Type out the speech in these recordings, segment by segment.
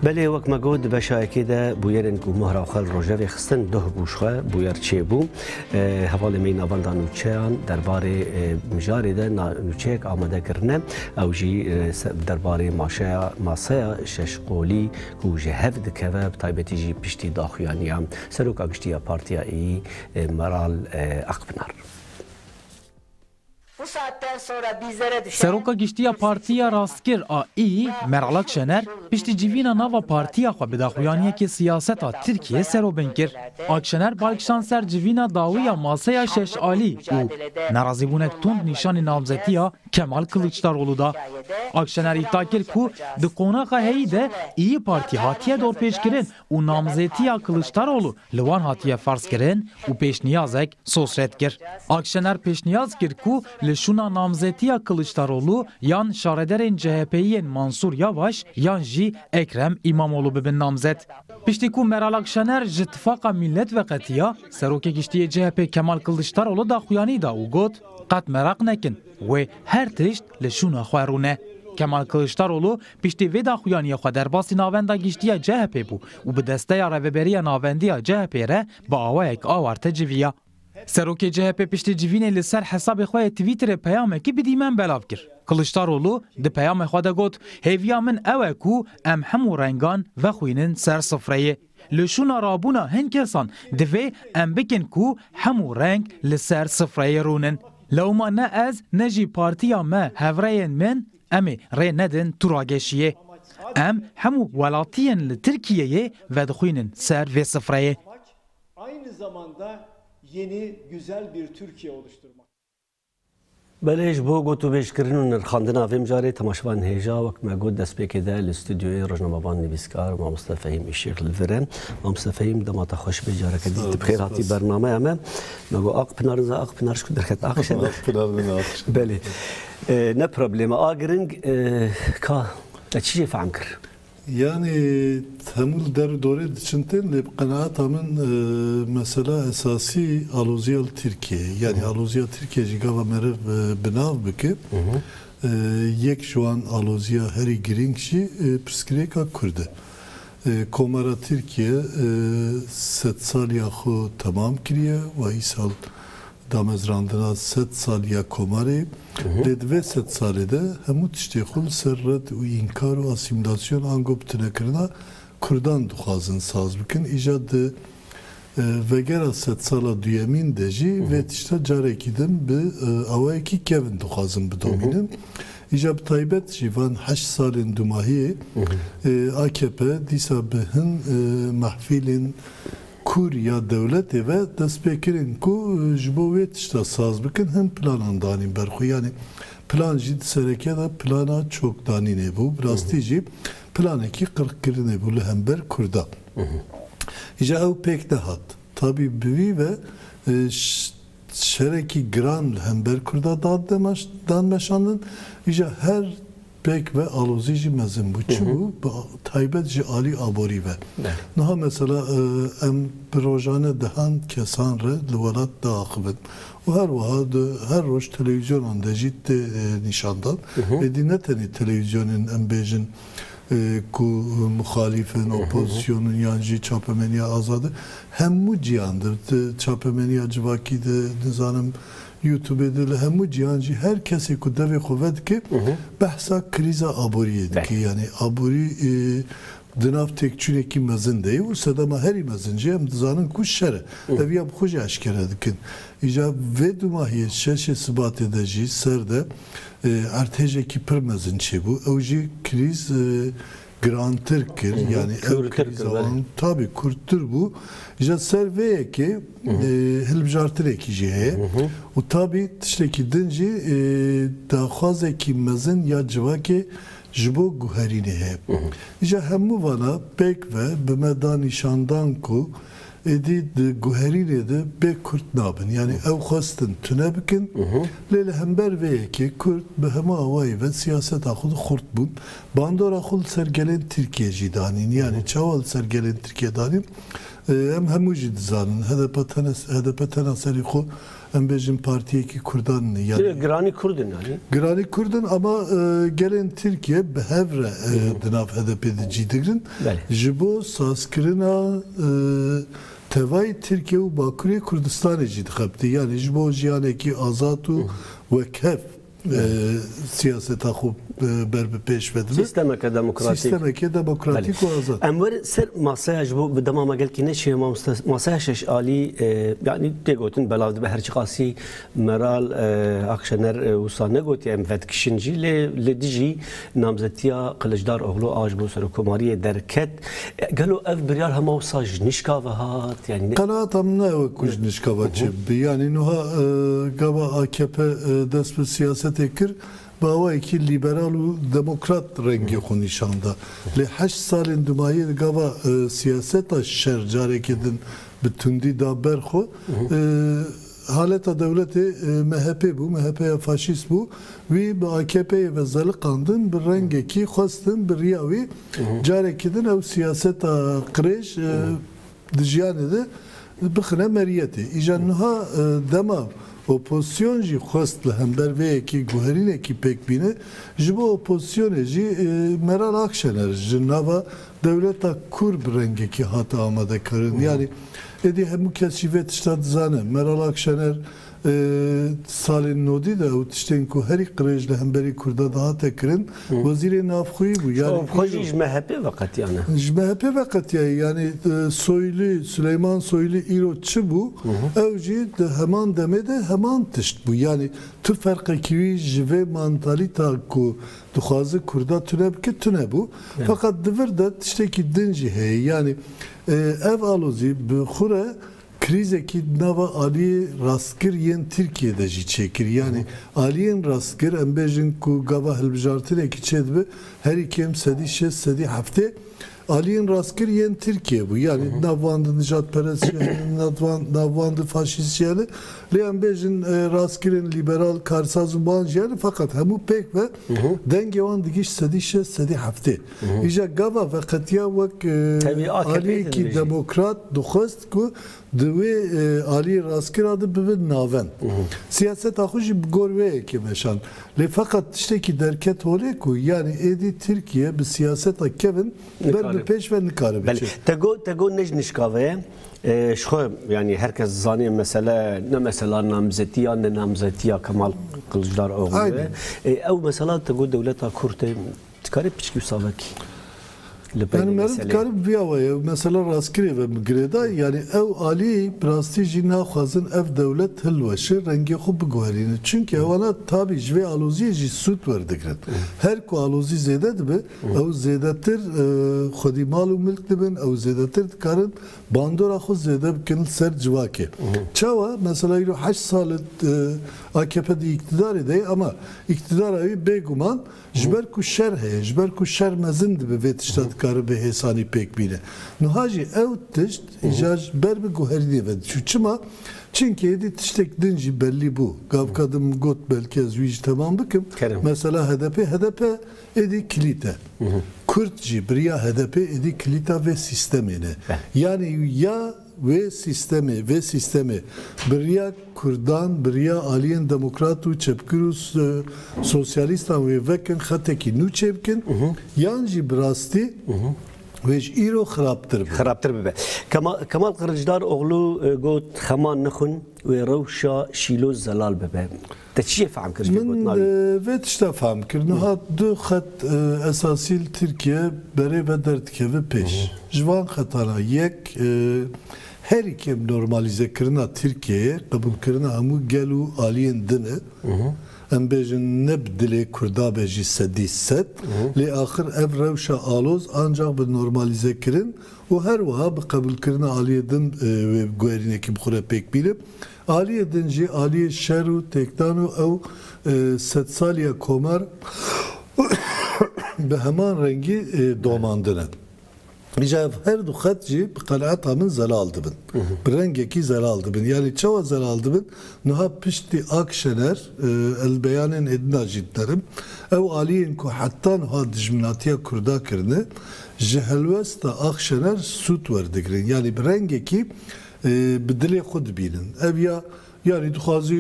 Belê wek me got di beşa yekê de bûyerên ku Mahra xwe li rojevê xistin doh bû ji xwe bûyer çêbû. Hevalê me yî navenda nûçeyan derbarê mijarê de nûçeyek amade kirine ew jî derbarê maşeya maseya şeş qolî ku ji hev dikeve bi taybetî jî piştî daxuyaniya Seroka Giştî ya Partiya Î Meral Akpinar. Seroka Giştî ya Partiya Rastkir a Î, Meral Akşener, piştî civîna nava partiya xwe bi daxuyaniyekê siyaseta Tirkiyê serobing kir. Akşener bal kişand ser civîna dawî ya Maseya Şeş Alî û nerazîbûnek tund nîşanî namzetiya Kemal Kiliçdaroglu da. Akşener îdia kir ku di qonaxa heyî de Îyî Partî hatiye dorpêçkirin û namzetiya Kiliçdaroglu li wan hatiye ferzkirin û pêşniyazek soz red kir. Akşener pêşniyaz kir ku li şûna namzetiya Kiliçdaroglu yan şarederên CHP'yî yên Mansûr Yavaş yan jî Ekrem Îmamoglu bibin namzet. Piştî ku Meral Akşener ji Tifaqa Mîlet veqetiya, Serokê Giştî yê CHP Kemal Kiliçdaroglu daxuyanî da û got, Qet meraq nekin, wê her tişt li şûna xwe rûne. Kemal Kiliçdaroglu Piştî vê daxuyaniyê xwe derbasî Navenda Giştiya CHP'ê bû û bi desteya Rêveberiya Navendî ya CHP'ê re bi awayek awarte civiya. Serokê CHP'ê piştî civînê li ser hesabê xwe yê Twitterê peyamekî bi dîmen belav kir. Kiliçdaroglu di peyamê xwe de got, Hêviya min ew e ku em hemû rengan vexwînin ser sifreyê. Li şûna rabûna hin kesan divê em bikin ku hemû reng li ser sifreyê rûnin. Lewma ne ez ne jî partiya me, hevrêyên min, Em ê rê nedin tu rageşiyê. Em hemû welatiyên li Tirkiyeyê vedixwînin ser vê sifreyê. Belê ji bo gotûbêjkirin û nirxandina vê mijarê temaşevan hêja wek me got destpêkê de li stûdyoyê rojnamevan nivîskar mamoste Fehîm Îşîq li vir e. Mamoste Fehîm dema te xweş be careke dî tu bi xêr hatî bernameya me. Me got Aqpinar niza Aqpinar ji ku derket Aqşe ne. Belê. Ne problem e. A giring ka te çi jê fehm kir? Yanî hemû li der û dorê diçin tên lê bi qenaeta min mesela esasî aloziya li Tirkiyeyê ye. Yanî aloziya Tirkiye jî gava meriv bi nav bike. Yek ji wan aloziya herî giring jî pirsgirêka Kurd e. Komara Tirkiye sedsaliya xwe temam kiriye û îsal Damezrandina sed salî ya Komarê, lê di vê sed salê de hemû tiştê xwe li ser red û înkar û asîmîlasyon ango bitinekirina kurdan dixwazin saz bikin, îja di vegera sed sala duyemîn de jî vê tişta carekî din bi awayekî kevn dixwazin bidomînin. Îja bi taybet jî van heşt salên dumahiyê akp dîsa bi hin mehfîlên Kûr ya dewletê ve dest pê kirin ku ji bo wê tişta saz bikin hin planan danîn ber xwe. Yanî plan jî di serekiya de plana çokdanînê bû. Bi rastî jî planekî qirqkirinê bû li hember Kurdan. Îja ew pêk nehat. Tabî bi vî ve şerekî giran li hember Kurdan dan meşandin. Îja her Pêk ve alozî jî mezin bû. Çi bû? Bi taybet ji alî aborî ve. Niha mesela em bi rojane dehan kesan re li welat diaxivin û her wiha di her roj telewîzyonan de jî tê nîşandan. Êdî ne tenê telewîzyonên em bêjin ku muxalîf in, opozîsyon in yan jî çapemeniya azad in. Hemû cihan de, di çapemeniya civakî de, nizanim Youtubê de li hemû cîhan jî her kesê ku devê xwe vedike behsa krîza aboriyê dike. Yanî aborî di nav têkçûnekî mezin de ye û sedema herî mezin jî em dizanin ku şer e. Ev ya bi xwe jî eşkere dikin. Îja vê dûmahiyê şeşê Sibatê de jî ser de erdhêjekî pir mezin çêbû. Ew jî krîz girantir kir yanî ew krîza wan tabî kurttir bû ji ser vê yekê hilbijartinekî jî heye û tabî tiştekî din jî daxwazekî mezin ya civakê ji bo guherînê heye. Îja hemû vana pêk ve bi me da nîşandan ku êdî di guherînê de bê kurt nabin yanî ew xwestin tune bikin lê li hember vê yekê kurd bi hemû awayî ve siyaseta xwe de xurt bûn Bandora xwe li ser gelên Tirkiyê jî danîn. Yanî çawa li ser gelên Tirkiyê danîn? Em hemû jî dizanin. HDP tene HDP tena serî xwe em bêjin partiyekî kurdan in. Yanî Lê giranî kurd in yanî. Giranî kurd in ama gelên Tirkiyê bi hev re di nav HDP'ê de cî digirin. Belê. Ji bo sazkirina tevayê Tirkiyê û Bakurê Kurdistanê jî dixebite. Yanî ji bo jiyanekî azad û wekhev. siyaseta xwe ber bi pêş ve dibe. Sîstemeke demokratîk. Sîstemeke demokratîk û azad. Em werin ser masaya ji bo bi dema me gelkî neşiya mamoste masaya şeş alî yanî tê gotin belav dibe her çiqasî Meral Akşener wisa negotiye em vedikişin jî lê li dijî Namzetiya Qiliçdaroglu a ji bo serokomariyê derket. Gelo ev biryar hema wisa ji nişka ve hat? Yanî. Qenaata min ne ew e ku ji nişka ve çê bibe. Yanî nuha gava akp dest bi siyasetê kir bi awayekî lîberal û demokrat rengê xwe nîşan da. Lê heşt salên dumayê di gava siyaseta şer carekê din bi tundî da ber xwe. Haleta dewletê MHP'ê bû, MHP'ya faşîst bû. Wî bi AKP'ê ve zeliqandin, bi rengekî xwestin bi riya wî carekî din ew siyaseta qirêj di jiyanê de bixine meriyetê. Îja niha dema opozîsyon jî xwest li hember vê yekî guherînekî pêk bîne, ji bo opozîsyonê jî Meral Akşener ji nava Dewleta Kur bi rengekî hate amadekirin. Yanî êdî hemû kes jî vê tişta dizane. Meral Akşener salên nodî de ew tiştên ku herî qirêj li hemberî Kurda dihate kirin, Wezîrê Navxweyî bû. Yanî Xwe jî ji MHP'ê veqetiyane. Ji MHP'ê veqetiyayî. Yanî Soylî, Suleyman Soylî îro çi bû, ew jî di heman demê de heman tişt bû. Yanî tu ferqekî wî ji vê mantalîta ku Dixwaze Kurda tune bike, tune bû. Feqet di vir de tiştekî din jî heye. Yanî ev alozî bi xwe re krîzekî di nava aliyê rastgir yên Tirkiyeyê de jî çêkir. Yanî aliyên rastgir em bêjin ku gava hilbijartinekî çêdibe herî kêm sedî şêst, sedî heftê Aliyên rastkir yên Tirkiyê bû. Yanî di nav van de nijadperest jî hene, di nav van de faşîst jî hene. Lê em bêjin rastkirên lîberal, karsaz û wan jî hene. Feqet hemû pêk be dengê wan digîşt sedî şeş, sedî heftê. Îja gava veqetiya wek Aliyekî demokrat dixwest ku Di wê aliyê rastkira de bibin navend. Siyaseta xwe jî bi gor wê yekê meşand. Lê feqet tiştekî derket holê ku yanî êdî Tirkiye bi siyaseta kevin ber bi pêş ve nikare biçe. Belê. Te got ne ji nişka ve ye. Ji xwe yanî her kes dizanê mesele ne mesela namzetî ya ne namzetiya Kemal Kiliçdaroglû ye. Ew mesela te got dewleta Kurd e. Dikarî piçkî û savakî li pey vê meselê. Yani meriv dikarî bi vîya wayî ev mesela rastkirê ve bi girêda. Yani ew alî bi rastî jî naxwazin ev dewlet hilweşe rengê xwe biguherîne. Çimkî hewana tabî ji vê aloziyê jî sûd werdigrin. Her ku alozî zêde dibe ew zêdetir xwedî mal û milk dibin, ew zêdetir dikarin bandora xwe zêde bikin li ser civakê. Çawa? Mesela îro heşt sal e AKP di îktidarê de ye ama îktidara wî bêguman, Ji ber ku şer heye, ji ber ku şer mezin dibe vê tişta dikare bi hêsanî pêk bîne. Nuha jî ew tişt îcar ji ber bi guherînê ve diçû. Çima? Çimkî êdî tiştêk din jî bellî bû. Gavka din min got belkî ez wî jî temam bikim. Mesela HDP'ê, HDP êdî kilît e. Kurd jî biriya HDP'ê êdî kilîta vê sîstemê ne. Yanî ya. Wê sîstemê, vê sîstemê biriya kurdan, biriya aliyên demokrat û çepgir û sosyalîstan wê vekin xetekî nû çê bikin yan jî bi rastî wê ji îro xirabtir bibe. Xirabtir bibe. Kemal Kiliçdaroglu got, Xeman nixwin. Wê rewşa Şîlo zelal bibe. Te çi jê fehm kir ji Min gotina wî? vê tişta fehm kir. Niha du xet esasî li Tirkiye berê ve derdikevin pêş. Ji van xetan a yek herî kêm normalîzekirina Tirkiyeyê, qebûlkirina hemû gel û aliyên din e. Em bêjin ne bi dilê Kurda be jî sedî sed. Lê axir ev rewşa aloz ancax bi normalîzekirin û her wiha bi qebûlkirina aliyê din wê bi guherînekî bi xwe re pêk bîne. Aliyê din jî aliyê şer û têkdan û ew sedsaliya komar bi heman rengî domandine. Îja ev her du xet jî bi qenaeta min zelal dibin. Bi rengekî zelal dibin. Yanî çawa zelal dibin? Niha piştî Ak Şener, ez li beyanên êdina jî dinerim, ew aliyên ku heta niha dijminatiya Kurda kirine, Ji helwesta Akşener sûd werdigrin yanî bi rengekî bi dilê xwe dibînin. Ev ya yanî dixwazî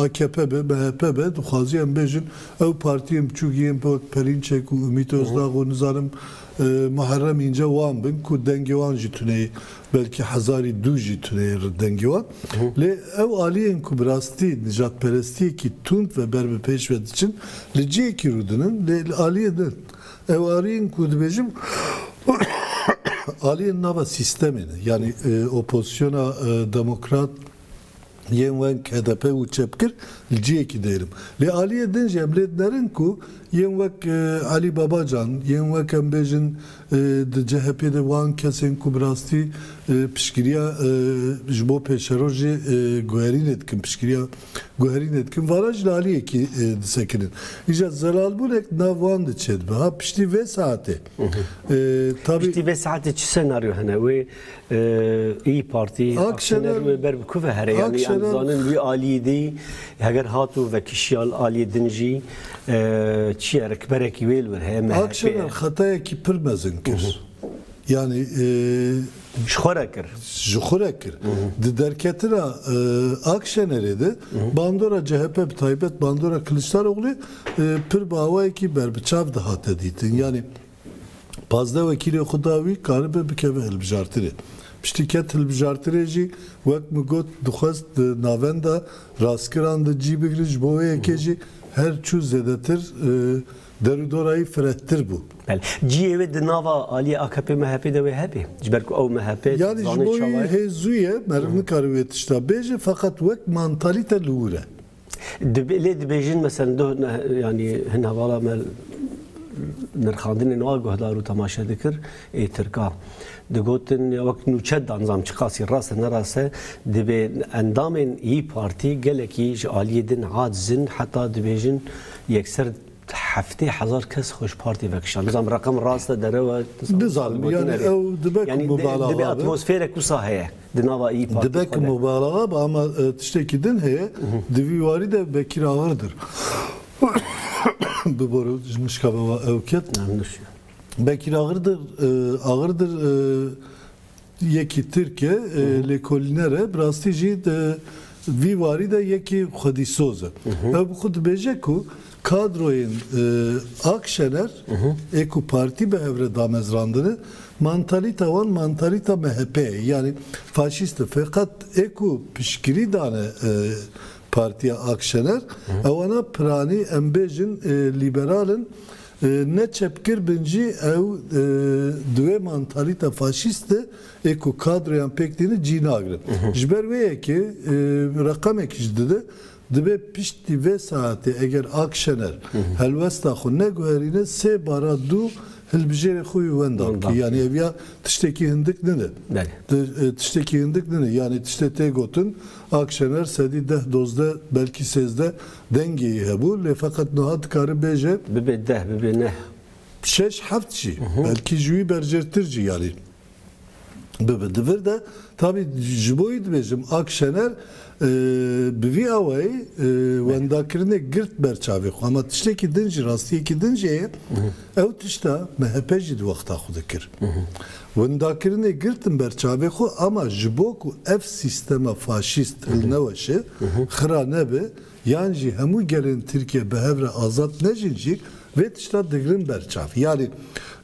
akp be, MHP be, dixwazî em bêjin ew partiyên biçûk yên bi wek Perinçek û Umît Ozdag û nizanim Muherrem Înce wan bin ku dengê wan jî tuneyê belkî hezarî dû jî tuneyê li dengê wan. Lê ew aliyên ku bi rastî nijadperestiyekî tund ve ber bi pêş ve diçin li cihekî rûdinin lê li aliyê din Êwarîn ku dibêjim aliyên nava sîstemê ne. Yanî opozisyona demokrat yên weng hdp û çepgir li ciyekî dêrim. Lê aliyê din jî em lê dinerin ku yên wek Elî Babacan, yên wek em bêjin di chp de wan kesên ku bi rastî piştgiriya ji bo pêşerojê guherînê dikin, piştgiriya. Guherînê dikin, varan jî li alî yekî disekinin. Îja zelalbûnek di nav wan de çêdibe. Ha piştî vê saetê tabî. Piştî vê saetê çi senaryo hene wê Îyî Partî Akşener wê ber bi ku ve here yanî em dizanin wî alî dî heger hat û vekişiya li alî din jî çi ye rikberekî wê li wir heye. Akşener xetayekî pir mezin kir. Yanî Ji xwe re kir. Ji xwe re kir. Di derketina Akşenerê de bandora CHP bi taybet bandora Kiliçdaroglûyê pir bi awayekî berbiçav dihate dîtin. Yanî pazdeh wekîlên xwe da wî karibe bikeve hilbijartinê. Piştî ket hilbijartinê jî wek min got dixwest di navenda rastkiran de cî bigire ji bo wê yekê jî her çû zêdetir Derûdorayî firettir bû. Bel, ciyê wê di nava aliyê akp MHPê de wê hebe. Ji ber ku ew MHPê Yani ji bo wî hê zû ye, meriv nikare wê tişta bêje feqet wek mantalîte li wir e. Dibê lê dibêjin meselen doh yani hin hevala me nirxandinên wan guhdar û temaşe dikir. Ê Tirka digotin ya wek nûçe danizam çi qasî rast e nerast e, divê endamên Î Partî gelekî ji aliyê din aciz in heta dibêjin yekser heftê hezar kes xwe ji partî vekişand. Nizanim reqem rast e derew e? Nizanim yanî ew dibe ku mubalaxa be. Divê atmosfêrek wisa heye di nava Î Partî xwe de. Dibe ku mubalaxa be ama tiştekî din heye di vî warî de Bekîr Agirdir bi bo ji nişka be ew ket. Bekîr Agirdir Agirdir yekî Tirk e, lêkolîner e, bi rastî jî di vî warî de yekî xwedîsoz e. Ew bi xwe dibêje ku kadroyên Ak Şener ê ku partî bi hev re damezrandine, mantalîta wan mantalîta MHP'ê ye, yanî faşîst e. Feqet ê ku piştgirî dane partiya Ak Şener, ew ana piranî em bêjin lîberal in, Ne çepgir bin jî ew di wê mantalîta faşîst de ê ku kadroyan pêk tînin cî nagirin. Ji ber wê yekê reqemekî jî dide, Dibê piştî vê saetê eger Ak Şener helwesta xwe neguherîne sê bara dû hilbijêrê xwe wî wenda bike. Yanî ev ya tiştekî hindik nine. Tiştekî hindik nine. Yanî tiştê tê gotin Ak Şener sedî deh dozdeh belkî sêzdeh Dengê yê hebû lê feqet niha dikare bêje. Bibe deh, bibe neh. Şeş, heft jî. Belkî ji wî berjêrtir jî yarî bibe. Di vir de tabî ji bo wî dibêjim Ak Şener bi vî awayî wendakirinê girt ber çavê xwe. Hema tiştekî din jî, rastiyekî din jî heye. Ew tişta MHP jî di wexta xwe de kir. Windakirinê girtin ber çavê xwe ama ji bo ku ev sîstema faşîst hilneweşe, xira nebe yan jî hemû gelên Tirkiye bi hev re azad nejin jî vê tişta digirin ber çav. Yanî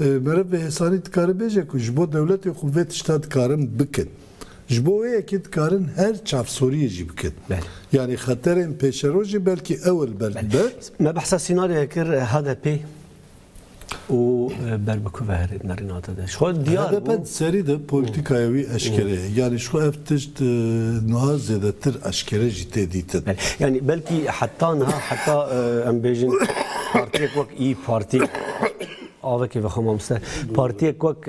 meriv bi hêsanî dikare bêje ku ji bo dewletê xwe vê tişta dikarin bikin. Ji bo wê yekê dikarin her çavsoriyê jî bikin. Yanî xeterên pêşerojê belkî ew li ber dibe. Me behsa sînaryoyê kir, HDP'ê. û ber bi ku veherê di merînate de. Ji xwe diyar bû. HDP di serî de polîtîkaya wî eşkere ye. Yanî ji xwe ev tişt niha zêdetir eşkere jî tê dîtin. Belê. Yanî belkî heta niha heta em bêjin partiyek wek Îyî Partî avekê vexwe mamoste. Partiyek wek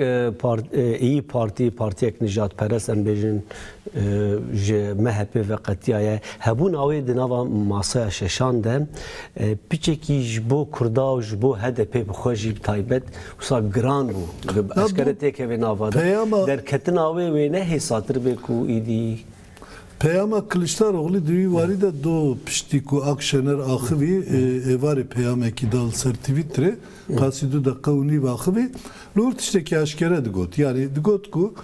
Îyî Partî, partiyek nijadperest em bêjin ji MHP'ê ve qetiyaye. Hebûna wê di nava masaya şeşan de piçekî ji bo Kurda û ji bo HDP'ê bi xwe jî bi taybet wisa giran bû. Eskere têk e vê nava de. Derketina wê wêne hêsatir bê ku îdî. Peyama Kiliçdaroglî di wî warî de do piştî ku Akşener axivî êvarê peyamekî da li ser Twîtterê. Qasî du deqe û nîv axivî li wir tiştekî eşkere digot. Yanî digot ku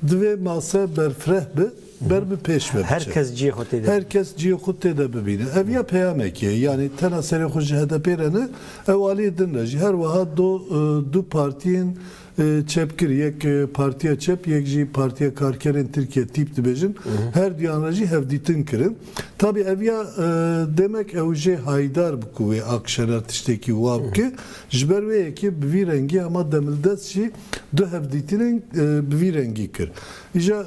divê mase berfireh bi, ber bi pêş ve biçe. Her kes ciyê xwe tê de. Her kes ciyê xwe tê de bibîne. Ev ya peyamekî ye. Yanî tena serê xwe ji HDP'ê re ne, ew aliyê din re jî. Her wiha do du partiyên Çep kir, yek Partiya Çep yek jî Partiya Karkerên Tirkiye, tîp dibêjin, her duyan re jî hevdîtin kirin. Tabî ev ya demek ew jê hayîdar bi ku wê Akşener tiştekî wa bike. Ji ber wê yekê bi vî rengî hema Demildest jî du hevdîtinên bi vî rengî kir. Îja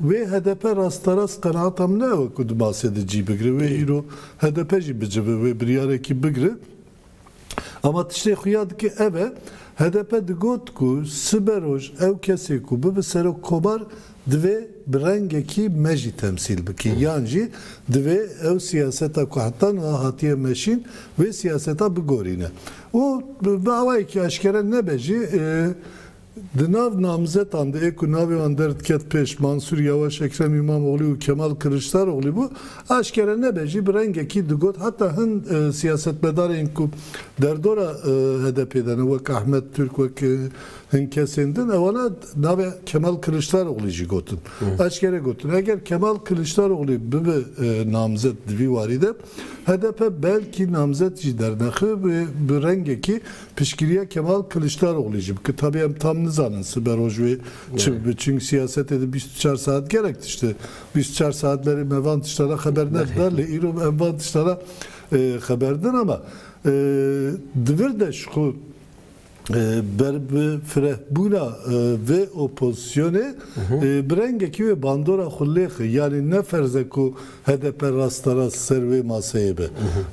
wê hdp rasterast qenaata min ew e ku di masê de cî bigire. Wê îro hdp jî bicive wê biryarekî bigire. Ama tiştê xuya dike ev e, hdp digot ku siberoj ew kesê ku bibe serok komar divê bi rengekî me jî temsîl bike yan jî divê ew siyaseta ku heta niha hatiye meşîn vê siyaseta bigorîne û bi awayekî eşkere nebe jî Di nav namzetan de yê ku navê wan derdiket pêş, Mansûr Yawaş, Ekrem Îmamoglû û Kemal Kiliçdaroglî bû. Aşkere nebe jî bi rengekî digot heta hin siyasetmedarên ku derdora HDP'ê de ne wek Ahmet Tûrk, wek hin kesên din ewana navê Kemal Kiliçdaroglî jî gotin. Aşkere gotin eger Kemal Kiliçdaroglî bibe namzet di vî warî de HDP belkî namzet jî dernexibê bi rengekî Piştgiriya Kemal Kiliçdaroglî jî bi kitabê em tam nizanin sibe roj wê çi bibe çing siyasetê di bîst û çar saet gelek tişti bîst û çar saet berê me van tişta re xeber nedibe lê îro em van tişta re xeber din ama di vir de ji xwe ber bi fireh bûna vê opozisyonê bi rengekî wê bandora xwe lê xwe yanî ne ferz e ku HDP rasterast ser wê maseyê be.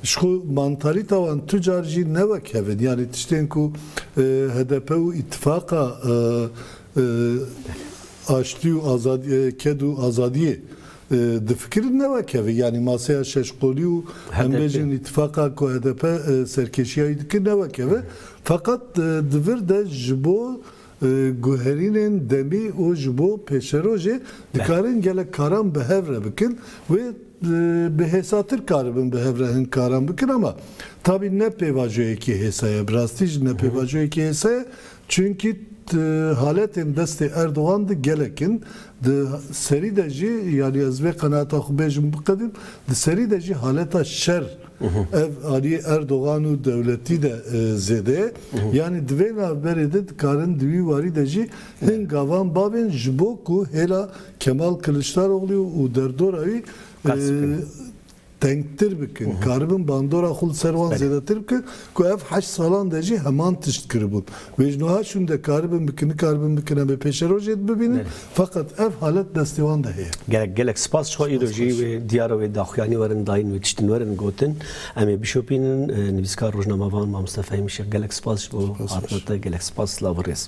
Ji xwe mantalîta wan tu car jî ne wek hev in. Yanî tiştên ku HDP û îtîfaqa Aştî û Azadî ked û azadiyê difikirin ne wek hev in. Yanî maseya şeş qolî û em bêjin îtîfaqa ku HDP serkêşiya wî dike ne wek hev e. Feqet di vir de ji bo Guherînên demî û ji bo pêşerojê dikarin gelek karan bi hev re bikin wê bi hêsatir karibin bi hev re hin karan bikin ama tabî ne pêvajoyekî hêsa ye. Bi rastî jî ne pêvajoyekî hêsa ye çunkî di haletên destê Erdogan de gelek in di serî de jî yanî ez vê qenaata xwe bêjim biqedîm di serî de jî haleta şer Ev aliyê Erdogan û dewletî de zêde ye. Yanî di vê navberê de dikarin di wî warî de jî hin gavan babên ji bo ku hêla Kemal Kiliçdaroglû û derdora wî tengtir bikin, karibin bandora xwe li ser wan zêdetir bikin. Ku ev heşt salan de jî heman tişt kiribûn. Wê ji nuha şûn de karibin bikin, nikaribin bikin em ê pêşerojê dibibînin. Feqet ev halet destê wan de heye. Gelek gelek spas ji xwe. Îro jî wê diyara wê daxuyanî werin dayîn wê tiştin werin gotin. Em ê bişopînin. Nivîskar, rojnamevan Mamoste Fehîm Şêx gelek spas ji bo hatina te. Gelek spas, silav û rêz.